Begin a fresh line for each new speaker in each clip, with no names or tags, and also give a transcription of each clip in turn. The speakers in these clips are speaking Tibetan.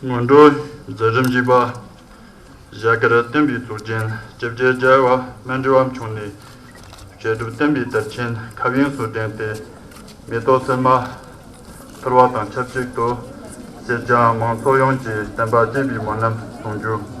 སྔོན་འགྲོ་རྫས་རིམ་བཞི་པ། བཞག་གི་རལ་སྟན་པའི་གཙུག་རྒྱན་བཅོ་བརྒྱད་སྦྱར་བ་སྨན་དྲི་བམ་ཆུང་ནས། བཤད་སྒྲུབ་བསྟན་པའི་དར་ཆེན་ཁ་དབྱིངས་སུ་བསྒྲེངས་ཏེ། མེ་ཏོག་སིལ་མ་ཕུལ་བ་དང་ཆབས་ཅིག་ཏུ། སེར་སྐྱ་མང་ཚོགས་ཡོངས་ཀྱིས་བསྟན་པ་གཅེས་པའི་མོ་རྣམས་གསུང་རྒྱུ།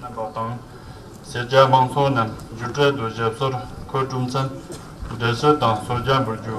གནང་བ་དང། སེར་སྐྱ་དམངས་ཚོགས་རྣམས་སྒྱུ་རྩལ་དུ་ཞབས་སོར་འཁོད་གྲུབ་མཚམས་འབྲེལ་སྲོལ་དང་སྲོལ་རྒྱག་འབུལ་རྒྱུ།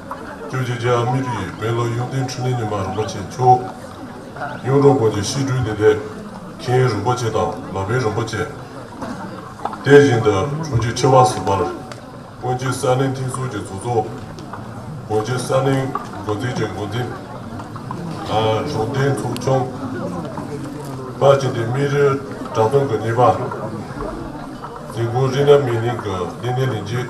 བཅུ་གཅིག་རྗེ་ཨ་མི་རི་ཡའི་དཔོན་སློབ་གཡུང་བསྟན་འཕྲིན་ལས་ཉི་མ་རིན་པོ་ཆེ་མཆོག་གཡུང་དྲུང་དགོན་གྱི་ཤིས་སྤྲུལ་བདེ་ལེགས་མཁྱེན་རིན་པོ་ཆེ་དང་ལ་བེ་རིན་པོ་ཆེ། དེ་བཞིན་དུ་དྲུང་ཆེ་ཆེ་བ་ཟུར་པར་དགོན་གྱི་གསར་རྙིང་མཐིང་གསུར་གྱི་གཙོ་གཙོ། དགོན་གྱི་གསར་རྙིང་འགོ་འཛིན་གྱི་འགོ་འཛིན། གཞུང་རྟེན་ཚོགས་ཆུང། པ་བཅས་ཏེ་སྨིན་རི་བྲག་སྟོང་གི་གཉིས་པ། འཛིན་སྐུ་རི་ནཱ་མི་ནིང་གི་གླིང་སྣེ་ལས་རྗེ།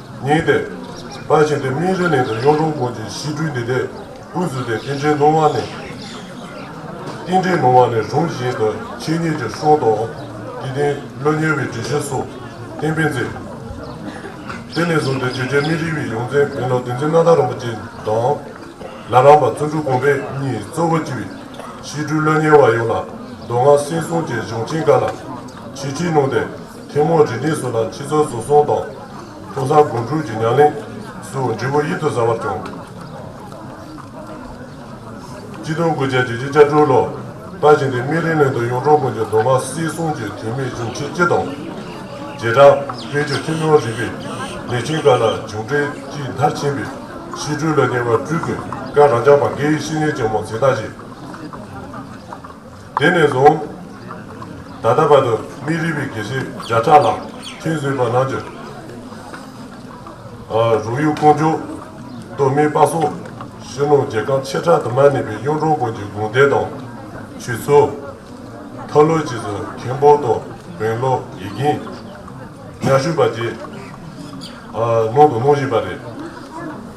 ཉིད་དེ། ལྷ་བྱིན་ཏེ་སྨིན་གྲོལ་ནི་དེར་གཡུང་དྲུང་ཀུན་གྱི་ཞི་ཁྲོའི་འདུས་སྡེ། ཀུན་བཟོད་དེ་རྟེན་འབྲེལ་ནོར་བ་ནི། རྟེན་འབྲེལ་ནོར་བ་ནི་རུང་བཞིན་དུ་འཆད་ཉན་གྱི་གསུང་དང། འདི་རྟེན་བློ་ཉེ་བའི་འགྲེལ་བཤད་སོགས་གཏན་ཕན་མཛད། དེ་ནས་བཟུང་སྟེ་རྗེ་རྒྱ་མི་རིགས་པའི་ཡོངས་འཛིན་དགེ་ལུགས་བསྟན་འཛིན་མནའ་བདག་རིན་པོ་ཆེ་དང། ལ་རམས་པ་བརྩོན་འགྲུས་དགོངས་པས་གཉིས་གཙོ་བོར་བགྱི་བའི་ཞི་ཁྲོའི་བློ་ཉེ་བ་ཡོངས་ལ་མདོ་སྔགས་སེང་གསུམ་གྱི་གཞུང་ཆེན་འགའ་ལ་ཞི་ཁྲིད་གནང་སྟེ། ཐུན་མོང་དྲིལ་བསྒྲིགས་སུ་ལ་ཕྱི་ཚོགས་འཛུགས་སྐྱོང་དང། ཐོག་བཟང་སྒོ་དྲུག་གི་ཉམས་ལེན། སུ་འབྲས་བུ་ཡིད་དུ་ཟ་བར་བྱུང། སྤྱི་དོན་དགུ་བརྒྱ་ཇི་བཞིན་བཅའ་འཕྲུལ་ལོ། ལྟ་བྱིན་ཏེ་སྨིན་རིང་ལན་དུ་གཡུང་དྲུང་དགོན་གྱི་མདོ་སྔགས་སྲིད་གསུམ་གྱི་དུས་མེད་གཞུང་ཆེན་སྤྱི་དང། རྗེས་འབྲང། བསྟན་བཅོས་ཐུན་མོང་རིག་པའི། ལས་ཆེན་འགའ་ལ་བྱུང་འཕྲལ་གྱི་མཐར་ཕྱིན་པའི། ཤེས་འཕྲུལ་ལ་ཉེ་བར་སྤྲུལ་སྐུའི་བཀའ། རང་ཅག་བ་འགའི་བཤེས་གཉེན་ཆེན་མོ་འཛིན་བདག་བཞི། དེ་ནས་བཟུང། ད་ལྟ་བར་དུ་མི་རིགས་པའི་དགེ་བཤེས་བརྒྱ་ཕྲག་ལྷག་མཆན་བཟོས་པ་རྣམས་ཀྱི། རུ་ཡུལ་ཀོང་ཇོ། མདོ་སྨད་སྤ་སོ། ཞི་ནུ་རྒྱལ་ཁམས་ཆེ་ཕྲ་དུ་མར་གནས་པའི་གཡུང་དྲུང་བོན་གྱི་དགོན་སྡེ་དང། ཆོས་ཚུལ། མཐའ་ཀློའི་རྗེས་སུ་མཁན་པོ་དང་བོན་ཀློ་ཡི་གིང། ཉག་ཤུ་པ་བཅས། ནང་དུ་སྣང་བཞིན་པ་རེད།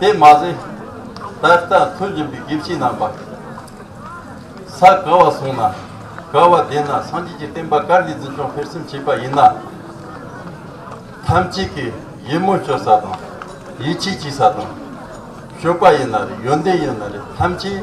དེ་མ་ཟད། ད་ལྟ་ཐུགས་འབྱིན་པའི་དགེ་བཤེས་རྣམ་པ། ས་ག་བ་སོང་ན་ག་བ་བསྡད་ན་སངས་རྒྱས་ཀྱི་བསྟན་པ་གར་ལས་འཛིན་སྐྱོང་ཕེབས་སེམས་བྱེད་པ་ཡིན་ན། ཐམས་ཅད་ཀྱི་ཡིད་སྨོན་བཅོལ་ས་དང། ཡིད་ཆེས་བྱེད་ས་དང། ཞུགས་པ་ཡིན་ན་རེད་ཡོན་ཏན་ཡིན་ན་རེད་ཐམས་ཅད།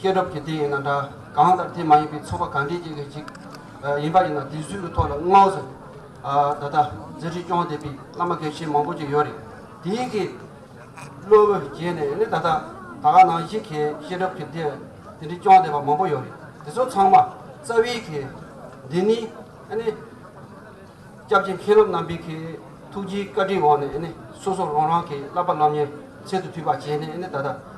ཤེས་རབ་ཀྱི་དེ་ཡིན་ན་འདྲ། གང་ལྟར་དེ་མ་ཡིན་པའི་ཚོགས་པ་གང་དེའི་གཅིག་གི་གཅིག། ཡིན་པ་ཡིན་ན་དེ་སུའི་ཐོག་ལ་བསྔགས་ཟེར། ད་ལྟ་མཛད་འཕྲིན་སྐྱོང་བསྡད་པའི་བླ་མ་གལ་ཆེན་མང་པོ་ཅིག་ཡོད་རེད། དེའི་གི་བློ་བསྐྱེད་ནས་ནི་ད་ལྟ་ད་ག་ནང་བཞིན་གྱི་ཤེས་རབ་ཀྱི་དེ་དེ་འདྲའི་སྐྱོང་བསྡད་པ་མང་པོ་ཡོད་རེད། དེ་ཚོ་ཚང་མ་རྩ་བའི་གི་འདི་ནི་ནི། སྐྱབས་རྗེ་མཁྱེན་རབ་རྣམ་པའི་གི་ཐུགས་རྗེའི་བཀའ་དྲིན་འོག་ནས་ནི་སོ་སོ་རང་རང་གི་བསླབ་པ་བསླབ་ཉེར་ཚད་དུ་མཐུད་པ་བྱས་ནས་ནི་ད་ལྟ་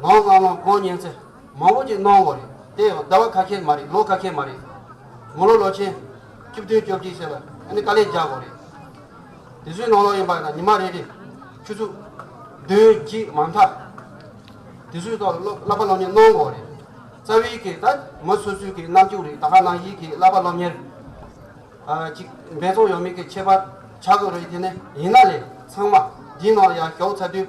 ངའོ་སྔ་མོ་སྒོ་ཉན་ཚེ་མང་པོ་ཅིག་གནང་འོ་རེད་དེ་ཡང་ཟླ་བ་ཁ་ཁྱེར་མ་རེད་ལོ་ཁ་ཁྱེར་མ་རེད། མོ་ལོ་ལོ་ཆེན། བཅུ་བདུན་བཅོ་བརྒྱད་བྱས་ལ་ཨ་ནི་དཀའ་ལས་རྒྱག་འོ་རེད། དེ་ཚོའི་ནང་ལོག་ཡིན་པ་ན་ཉི་མ་རེ་རེ། ཆུ་ཚུད། བདུན་གཅིག་མ་མཐའ། དེ་ཚོའི་ཐོག་ལ་བསླབ་པ་སློབ་གཉེར་གནང་འོ་རེད། རྩ་བའི་གེ་ད་མོ་སོ་སོའི་གེ་རྣམ་བཅུ་རེད་ད་ཧ་ན་ཡིད་ཀྱི་བསླབ་པ་སློབ་གཉེར། ཅིག་འབད་བརྩོན་ཡོད་མེད་ཀྱི་ཁྱད་པར་ཆགས་དགོས་རེད་དེ་ནས་ཡིན་ན་ལས་ཚང་མ་འདིའི་ནང་ལ་ཡར་ཞོགས་ཚར་དུས་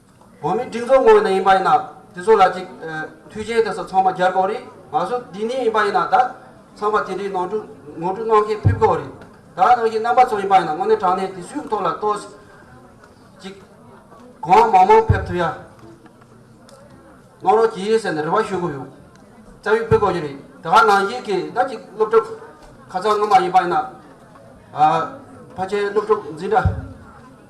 བོད་མི་སྒྲིག་འཛུགས་ངོས་ནས་ཡིན་པ་ཡིན་ན་དེ་ཚོ་ལ་ཅིག་མཐུ་ཆེན་དེ་ཚོ་ཚང་མ་རྒྱལ་དགོས་རེད་ང་ཚོ་འདི་ནས་ཡིན་པ་ཡིན་ན་ད་ཚང་མ་དེ་འདྲའི་ནོར་འཁྲུལ་ངོ་སྤྲོད་གནང་མཁན་ཕེབས་དགོས་རེད་ད་ནང་བཞིན་རྣམ་པ་ཚོ་ཡིན་པ་ཡིན་ན་དངོས་གནས་དྲང་གནས་དེ་སུའི་ཐོག་ལ་ལྟོས་ཅིག་གང་མང་མང་ཕེབས་ཐུབ་ཡ་གནང་རོགས་གྱིས་ཟེར་ནས་རེ་བ་ཞུ་གི་ཡོད་རྩ་བའི་ཕེབས་དགོས་ཀྱི་རེད་ད་ནང་བཞིན་གྱི་ད་ཅིག་སློབ་ཕྲུག་ཁ་ཚང་ངོ་མ་ཡིན་པ་ཡིན་ན་ཕ་ཆེན་སློབ་ཕྲུག་འཛིན་གྲྭ།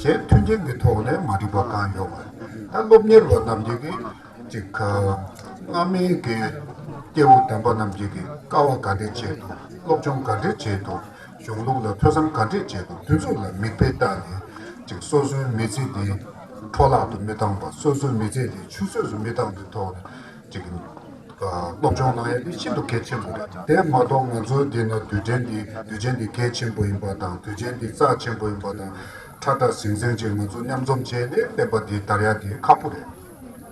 ཞེས་མཐུན་རྐྱེན་གྱི་ཐོག་ནས་མ་འགྲིག་པ་གང་ཡོད་པ་ད་སློབ་གཉེར་བ་རྣམས་ཀྱིས་ཅིག། སྔ་མའི་གི་སྐྱེ་བོ་དམ་པ་རྣམས་ཀྱིས་ཀྱི་དཀའ་བ་ག་འདྲས་བྱས་འདུག་སློབ་སྦྱོང་ག་འདྲས་བྱས་འདུག་གཞུང་ལུགས་ལ་ཐོས་བསམ་ག་འདྲས་བྱས་འདུག་དུས་ཚོད་ལ་མིག་དཔེ་བལྟ་ནས་ཅིག་སོ་སོའི་མི་ཚེ་འདི་འཕྲོ་བརླག་ཏུ་མི་བཏང་བར་སོ་སོའི་མི་ཚེ་འདི་ཆུད་ཟོས་སུ་མི་བཏང་པའི་ཐོག་ནས། ཅིག་སློབ་སྦྱོང་གནང་ཡ་འདི་ཤིན་ཏུ་གལ་ཆེན་པོ་རེད། དེ་མ་གཏོགས་ང་ཚོའི་འདི་ན་དུས་དྲན་འདི་དུས་ཆེན་འདི་གལ་ཆེན་པོ་ཡིན་པ་དང་དུས་ཆེན་འདི་རྩ་ཆེན་པོ་ཡིན་པ་དང་ཁྲ་ཁྲ་ཟིང་ཟིང་ཅིག་ང་ཚོ་མཉམ་འཛོམས་བྱས་ཏེ་བསྟན་པ་འདི་དར་ཡ་འདི་ཁག་པོ་རེད།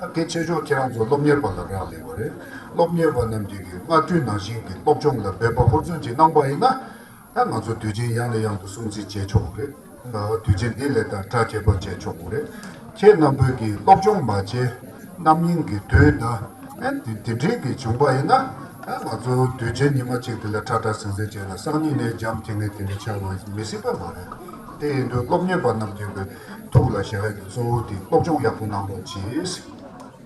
ད་གལ་ཆེ་ཤོས་ཁྱེད་རང་ཚོ་སློབ་གཉེར་པ་ལ་རག་ལས་པ་རེད། སློབ་གཉེར་བ་རྣམས་ཀྱིས་སྔ་དུས་ནང་བཞིན་གྱི་སློབ་སྦྱོང་ལ་འབད་པ་ཧུར་བརྩོན་ཅིག་གནང་པ་ཡིན་ན། ད་ང་ཚོ་དུས་ཆེན་ཡང་ནས་ཡང་དུ་སྲུང་བརྩི་བྱས་ཆོག་གི་རེད། དུས་ཆེན་འདི་ལས་དང་དྲག་ཁྱད་པར་བྱས་ཆོག་གི་རེད། ཁྱེད་རྣམས་བོད་ཀྱི་སློབ་སྦྱོང་མ་བྱས། རྣམ་གཡེང་གི་དུས་ད་ཨན་དེ་དེ་འདྲིས་ཀྱི་བྱུང་པ་ཡིན་ན། ད་ང་ཚོ་དུས་ཆེན་ཉི་མ་གཅིག་དེ་ལ་ཁྲ་ཁྲ་ཟིང་ཟིང་བྱས་ན་སང་ཉིན་ནས་འཇམ་ཐིང་ངེ་ཐིང་ངེ་ཆགས་པ་མི་སྲིད་པ་མ་རེད། དེ་ཡིན་དུས་སློབ་གཉེར་པ་རྣམས་ཀྱི་གི་ཐུགས་ལ་བཞག་ཡ་གི་གཙོ་བོ་དེ་སློབ་སྦྱོང་ཡག་པོ་གནང་རོགས་གྱིས།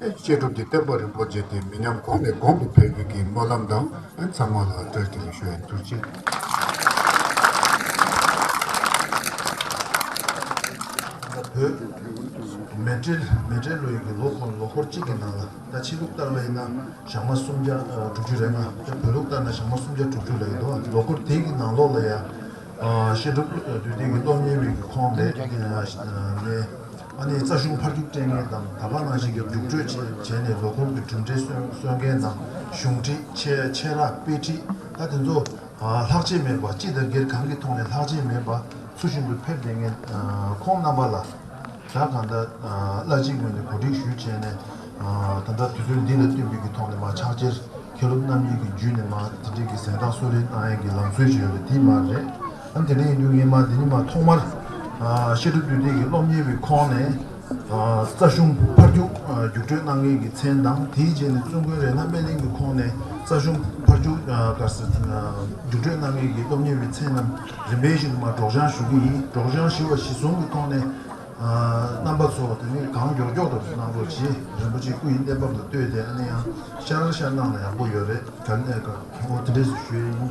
བཤད་སྒྲུབ་ཀྱི་བསྟན་པ་རིན་པོ་ཆེ་དེ་མི་ཉམས་གོང་ནས་གོང་དུ་འཕེལ་དགོས་ཀྱི་སྨོན་ལམ་དང་ཚང་མ་ལ་བཀྲ་ཤིས་བདེ་ལེགས་ཞུ་བའི་ཚུལ་བཞིན།
མེ་སྤྲེལ་ལོ་ཡིན་གྱི་ལོ་འཁོར་ལོ་འཁོར་གཅིག་གི་ནང་ལ་ད་ཕྱི་ལུགས་ལྟར་ལ་ཡིན་ན་ཞག་མ་སུམ་བརྒྱ་དྲུག་ཅུ་རེད་ང་ད་བོད་ལུགས་ལྟར་ན་ཞག་མ་སུམ་བརྒྱ་དྲུག་ཅུ་ལ་ཡིན་འདུག་ལོ་འཁོར་དེ་གི་ནང་ལོགས་ལ་ཡང་བཤད་སྒྲུབ་དུས་དེང་གི་སློབ་གཉེར་མི་གི་ཁོང་ལས་ནས། ཨ་ནེ་རྩ་གཞུང་ཕར་རྒྱུག་སྤྲད་མཁན་དང་ད་བར་ནང་བཞིན་གྱི་རྒྱུགས་སྤྲོད་བྱས་ནས་ལོ་འཁོར་གྱི་གྲུབ་འབྲས་སོན་སོན་མཁན་དང་གཞུང་ཁྲིད་ཆེད་ར་སྤེལ་ཁྲིད་ཨ་དེ་ཚོ་ལྷག་ཆད་མེད་པ་སྤྱི་དང་སྒེར་གང་གི་ཐོག་ནས་ལྷག་ཆད་མེད་པ་ཚུར་བཞིན་དུ་ཕེབས་བསྡད་མཁན་ཁོང་རྣམ་པ་ལ་ཟླ་གང་ཟླ་གླ་གཅིག་ངོས་ནས་གོ་སྒྲིག་ཞུ་བྱས་ནས་ད་ལྟ་དུས་ཚོད་འདི་ལ་བསྟུན་པའི་གི་ཐོག་ནས་མ་ཕྱག་འཁྱེར་མཁན་སློབ་རྣམ་གཉིས་ཀྱི་རྒྱུད་ནས་མ་དེ་འདྲས་གི་གཟེངས་རྟགས་གསོལ་རས་གནང་ཡས་ཀྱི་ལམ་སྲོལ་ཞིག་ཡོད་པ་དེ་མ་རེད། ཨ་འཐས་ནས་ཡིན་འདུག་ངས་མ་དེ་ཉིན་མ་ཐོག་མར་ཤེས་སྒྲུབ་དུས་དེབ་ཀྱི་སློབ་གཉེར་བའི་ཁོངས་ནས་རྩ་གཞུང་ཕར་རྒྱུག་རྒྱུགས་སྤྲོད་གནང་མཁན་གྱི་མཚན་དང་དེའི་རྗེས་ནས་བཙུན་དགོན་རེ་ན་སྨན་གླིང་གི་ཁོངས་ནས་རྩ་གཞུང་ཕར་རྒྱུག་དཀར་ཟས་རྒྱུགས་སྤྲོད་གནང་མཁན་གྱི་སློབ་གཉེར་བའི་མཚན་རྣམས་རིམ་པས་གཞི་དུ་མར་སྒྲོག་སྦྱང་ཞུ་གི་ཡིན་སྒྲོག་སྦྱང་ཞུ་བ་གཞི་བཟུང་གི་ཐོག་ནས་རྣམ་པ་ཚོ་དེ་ནས་གང་མགྱོགས་མགྱོགས་དུ་གནང་རོགས་གྱིས་རིན་པོ་ཆེ་སྐུ་ཡི་གནས་བབ་ལ་ལྟོས་ཏེ་ཨ་ནེ་ཡང་ཤར་ཤར་གནང་ན་ཡག་པོ་ཡོད་རེད་ག་ལེ་ག་ལེ་ཨོ་དེ་འདྲས་སུ་ཞུས་ཡིན།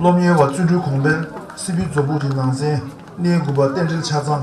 སློབ་གཉེར་བ་བརྩོན་འགྲུས་གོང་འཕེལ་སྲིད་པའི་མཛོ་འབུག་གི་ནང་ཚན་སྣེའི་དགུ་པ་རྟེན་འབྲེལ་ཆ་ཚང།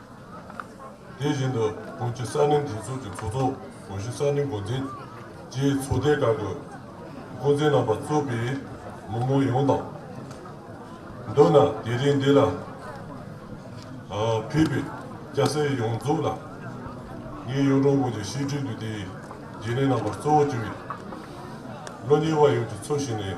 དེ་བཞིན་དུ་བོད་ཀྱི་གསར་རྙིང་སྒྲིག་འཛུགས་ཀྱི་ཚོགས་གཙོ་བོད་གཞིས་གསར་རྙིང་འགོ་འཛིན་གྱིས་ཚོགས་སྡེ་ཁག་གི་འགོ་འཛིན་རྣམ་པ་གཙོས་པའི་མི་མང་ཡོངས་དང། མདོར་ན་དེ་རིང་འདི་ལ་ཕེབས་པའི་སྐྱ་སེར་ཡོངས་རྫོགས་ལ་ངས་གཡུང་དྲུང་བོད་ཀྱི་ཤེས་འཁྲིད་དུ་དེའི་རྗེས་ལས་རྣམ་པར་གཙོ་བོ་བཅུ་བའི་བློ་གཉེར་བ་ཡོངས་ཀྱི་ཚུལ་བཞིན་ནས།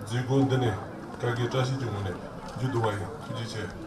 མཛད་སྒོ་འདི་ནི་བཀའ་བརྒྱད་བཀྲ་ཤིས་ཀྱི་ངང་ནས་མཇུག་བསྡུ་བ་ཡིན་ཐུགས་རྗེ་ཆེ།